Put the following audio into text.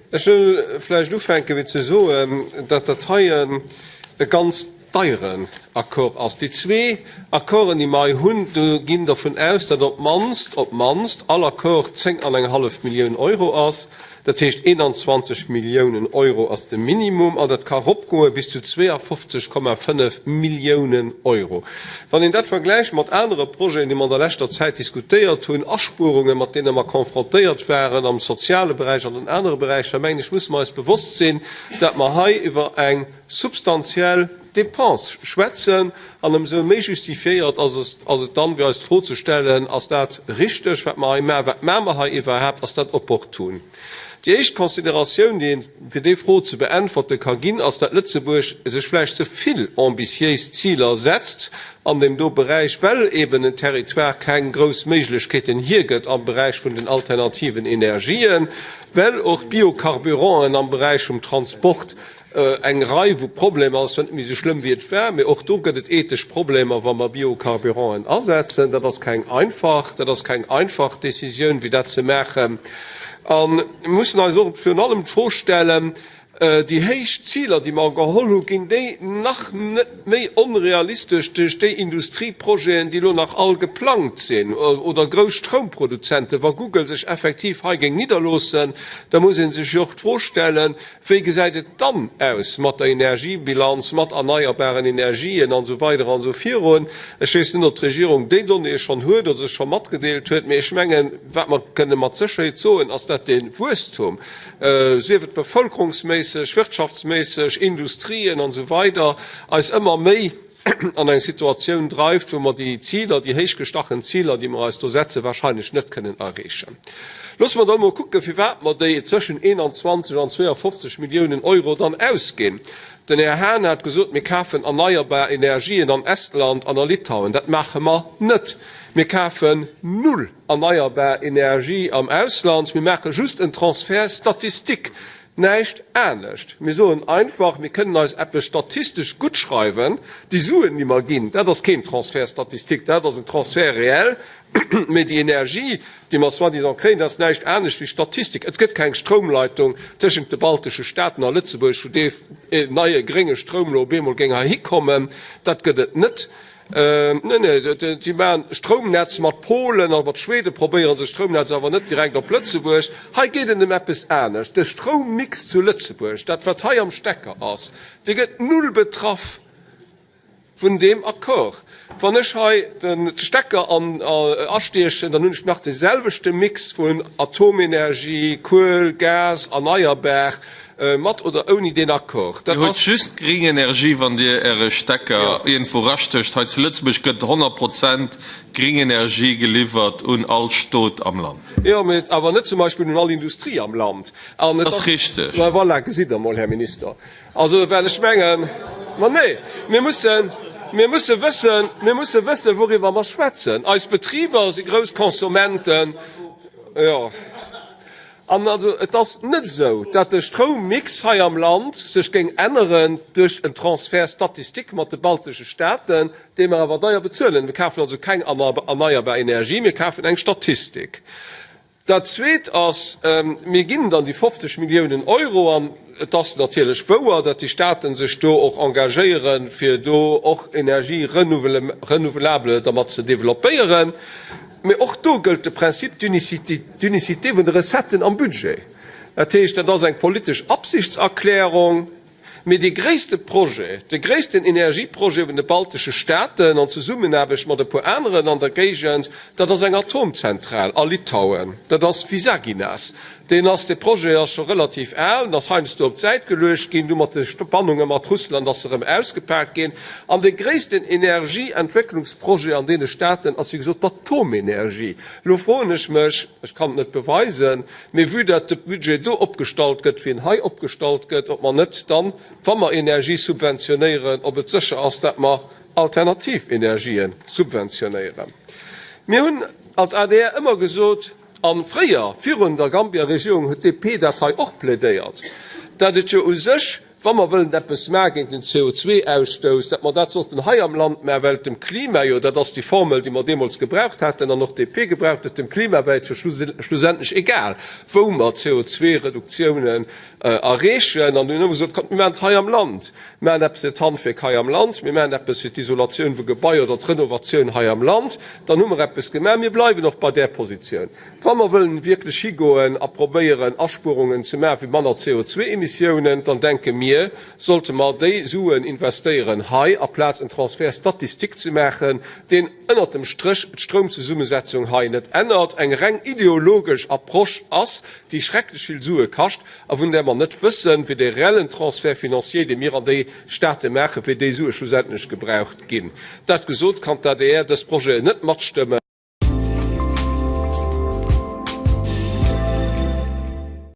Ech wëll vläicht ufänke fir ze soen, datt dat hei en e ganz deieren Accord ass. Déi zwee Accorden, déi mer hei hunn, do ginn dervun aus, datt op d'mannst, op d'mannst all Accord zéng an eng hallef Millioun Euro ass. Dat heescht, 21 Milliounen Euro ass de Minimum an dat ka ropgoe bis zu 52,5 Milliounen Euro. Wann een dat vergläicht mat anere Projeten, déi mer an der leschter Zäit diskutéiert hunn, Aspuerungen, mat deene mer konfrontéiert waren am soziale Beräich an an anere Beräicher, mengen ech, musse mer eis bewosst sinn, datt mer hei iwwer eng substantiell, Dépensë schwätzen, an ëmsou méi justifiéiert ass et dann, fir eis d'Fro ze stellen, Ass dat richteg, wat mer hei maachen? Wat maache mer hei iwwerhaapt? Ass dat opportun? Déi éischt Consideratioun, déi een, fir déi Fro ze beäntwerte ka ginn, ass, datt Lëtzebuerg sech vläicht ze vill ambitiéis Ziler setzt an deem do Beräich, well eeben en Territoire keng grouss Méiglechkeeten hiergëtt am Beräich vun den alternativen Energien, well och d'Biocarburanten am Beräich vum Transport Eng Rei vu Problemer, ass zwar net méi esou schlëmm wéi et war, mee och do gëtt et ethesch Problemer, wa mer Biocarburanten asetzen. Dat ass keng einfach, dat ass keng einfach Décisioun, fir dat ze maachen. A mir mussen eis och virun allem d'Fro stellen, Déi héich Ziler, déi mer geholl hunn, ginn déi nach net méi onrealistesch duerch déi Industrieprojeten, déi elo nach all geplangt sinn? Oder grouss Stroumproduzenten, wa Google sech effektiv hei géing nidderloossen, da muss ee sech jo och d'Fro stellen, Wéi gesäit et dann aus mat der Energiebilanz, mat erneierbaren Energien an esou weider an esou virun? Ech weess net, ob d'Regierung déi Donnéeë schonn huet oder se scho matgedeelt huet, mee ech mengen, wat mer kënne mat Sécherheet soen, ass dat de Wuesstum, sief et bevëlkerungsméisseg, wirtschaftsméisseg, Industrien an esou weider, eis ëmmer méi an eng Situatioun dreift, wou mer déi Ziler, déi héich gestachen Ziler, déi mer eis do setzen, wahrscheinlech net kënnen erreechen. Loosse mer dann emol kucken, firwat mer déi tëschent 21 an 52 Milliounen Euro dann ausginn. Den Här Hahn hat gesot, Mir kafen erneierbar Energien an Estland an a Litauen. Dat maache mer net. Mir kafen null erneierbar Energie am Ausland. Mir maache just en Transfert statistique. Näischt anescht. Mir soen einfach, mir kënnen eis eppes statistesch guttschreiwen, déi Suen, déi mer ginn, dat ass keen Transfert statistique, dat ass en Transfert réel, mä déi Energie, déi mer soi-disant kréien, dat ass näischt anescht wéi Statistik. Et gëtt keng Stroumleitung tëschent de baltesche Staaten a Lëtzebuerg, wou dee neie grénge Stroum lo op eemol géing heihikommen. Dat gëtt et net. Neen, neen, si maachen Stroumnetz mat Polen a mat Schweden, probéieren se Stroumnetz, awer net direkt op Lëtzebuerg. Hei geet et ëm eppes anescht. De Stroummix zu Lëtzebuerg, dat wat hei am Stecker ass, dee gëtt null betraff vun deem Accord. Wann ech hei de Stecker astiechen, dann hunn ech nach dee selwechte Mix vun Atomenergie, Kuel, Gas, erneierbar. Mat oder ouni deen Accord. Dir huet just gréng Energie wann Dir Äre Stecker iergendwou rastécht. Hei zu Lëtzebuerg gëtt 100 Prozent gréng Energie geliwwert un all Stot am Land. Jo, mee awer net zum Beispill un all Industrie am Land. Dat ass richteg. Ma voilà, gesitt Der emol, Här Minister, also well ech mengen. Ma nee, mir mussen, mir musse wëssen, mir musse wëssen, wouriwwer mer schwätzen. Eis Betriber si grouss Konsumenten. Jo. An also et ass net esou, datt de Stroummix hei am Land sech géing änneren duerch en Transfert statistique mat de baltesche Staaten, dee mer awer deier bezuelen. Mir kafen also keng erneierbar Energie, mir kafen eng Statistik. Dat Zweet ass, mir ginn dann déi 50 Milliounen Euro. Et ass natierlech wouer, datt déi Staaten sech do och engagéieren, fir do och Energie renouvelable dermat ze développéieren. Mee och do gëllt de Principe d'unicité vun de Recetten am Budget. Dat heescht, dat ass eng politesch Absichtserklärung. Mee dee gréisste Projet, de gréissten Energieprojet vun de baltesche Staaten, an Zesummenaarbecht mat e puer aneren an der Géigend, dat ass eng Atomzentral a Litauen, dat ass Visaginas. Deen ass, dee Projet ass scho relativ al an ass heiansdo op d'Säit geluecht ginn, du mat de Spannunge mat Russland ass e erëm ausgepaakt ginn. An dee gréissten Energieentwécklungsprojet an deene Staaten ass, wéi gesot, d'Atomenergie. Elo froen ech mech, ech kann et net beweisen, mee vue datt de Budget do opgestallt gëtt, wéi en hei opgestallt gëtt, ob mer net dann, wa mer Energie subventionéieren, ob et sécher ass, datt mer alternativ Energien subventionéieren. Mir hunn als adr ëmmer gesot, A fréier, virun der Gambia-Regierung, huet d'DP dat hei och plädéiert, dat et jo u sech, wa mer wëllen eppes maache géint den CO2-Ausstouss, dat mer dat sollten hei am Land maachen, well et dem Klima jo, dat ass déi Formel, déi mer deemools gebraucht haten an och d'DP gebraucht huet, dem Klima wär et jo schlussendlech egal, wou mer d'CO2-Reduktiounen Erreechen. An hunn elo gesot, Kommt, mir maachen et hei am Land. Mir maachen eppes fir d'Handwierk hei am Land. Mir maachen eppes fir d'Isolatioun vu Gebaier oder d'Renovatioun hei am Land. Dann hu mer eppes gemaach. Mir bleiwen och bei där Positioun, wa mer wëllen wierklech higoen a probéieren, Aspuerungen ze maachen fir manner CO2-Emissiounen, dann denke mir, sollte mer déi Suen investéieren hei, aplaz en Transfert statistique ze maachen, deen, ënnert dem Stréch d'Stroumzesummesetzung hei net ännert, eng reng ideologesch Approche ass, déi schrecklech vill Sue kascht a vun där mer net wëssen, wéi de reellen Transfert financier, dee mir an déi State maachen, wéi déi Sue schlussendlech gebraucht ginn. Dat gesot, kann d'ADR dës Projeten net matstëmmen.